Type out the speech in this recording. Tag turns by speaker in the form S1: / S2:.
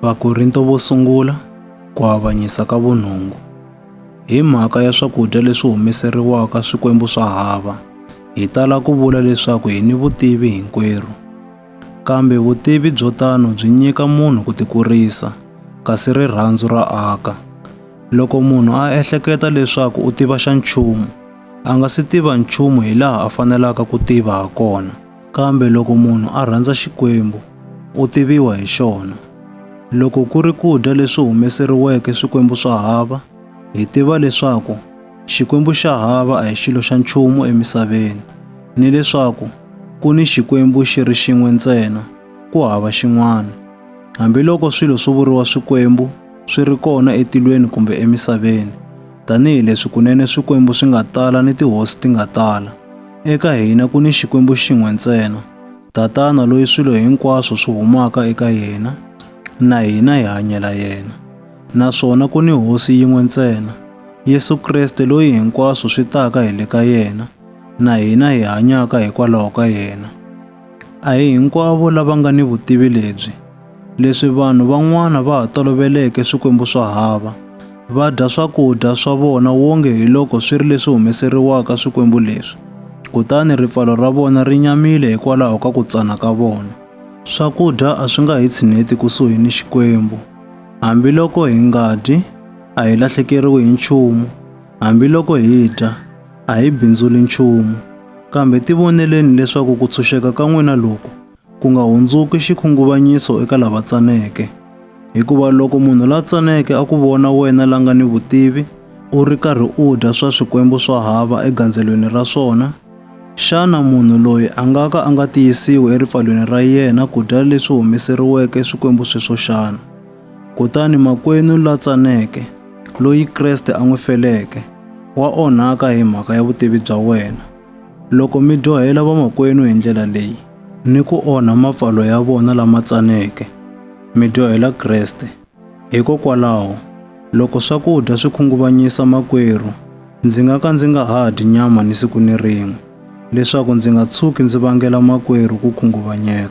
S1: Vakorinto vo sungula, ku avanyisa ka vunhungu. Hi mhaka ya swakudya leswi humeseriwaka swikwembu swa hava, hi tala ku vula leswaku hi ni vutivi hinkwerhu. Kambe vutivi byo tano byi nyika munhu ku tikurisa, kasi rirhandzu ra aka. Loko munhu a ehleketa leswaku u tiva xa nchumu, a nga si tiva nchumu hi laha a fanelaka ku tiva ha kona. Kambe loko munhu a rhandza Xikwembu, u tiviwa hi xona. Loko ku ri ku dya leswi humeseriweke swikwembu swa hava, hi tiva leswaku Xikwembu xa hava a hi xilo xa nchumu emisaveni, ni leswaku ku ni Xikwembu xi ri xin'we ntsena, ku hava xin'wana. Hambiloko swilo swo vuriwa swikwembu swi ri kona etilweni kumbe emisaveni, tanihi leswi kunene swikwembu swi nga tala ni tihosi ti nga tala, Eka hina ku ni Xikwembu xin'we ntsena, Tatana loyi swilo hinkwaswo swi humaka eka yena, na hina hi hanyela yena. Naswona ku ni Hosi yin'we ntsena, Yesu Kreste loyi hinkwaswo swi taka hi le ka yena, na hina hi hanyaka hikwalaho ka yena. A hi hinkwavo lava nga ni vutivi lebyi. Leswi vanhu van'wana va ha toloveleke swikwembu swa hava, va dya swakudya swa vona wonge hi loko swi ri leswi humeseriwaka swikwembu leswi, kutani ripfalo ra vona ri nyamile hikwalaho ka ku tsana ka vona. Swakudya a swi nga hi tshineti kusuhi ni Xikwembu. Hambiloko hi nga dyi, a hi lahlekeriwi hi nchumu, hambiloko hi dya, A hi bindzuli nchumu, kambe tivoneleni leswaku ku tshunxeka ka n'wina loku ku nga hundzuki xikhunguvanyiso eka lava tsaneke. Hikuva loko munhu la tsaneke a ku vona wena la nga ni vutivi u ri karhi u dya swa swikwembu swa hava egandzelweni ra swona, xana munhu loyi a nga ka a nga tiyisiwi eripfalweni ra yena ku dya leswi humeseriweke swikwembu sweswo xana? Kutani makwenu la tsaneke, loyi Kreste a n'wi feleke, wa onhaka hi mhaka ya vutivi bya wena. Loko mi dyohela vamakwenu hi ndlela leyi, ni ku onha mapfalo ya vona lama tsaneke, mi dyohela Kreste. Hikokwalaho, loko swakudya swi khunguvanyisa makwerhu, ndzi nga ka ndzi nga ha dyi nyama ni siku ni rin'we, leswaku ndzi nga tshuki ndzi vangela makwerhu ku khunguvanyeka.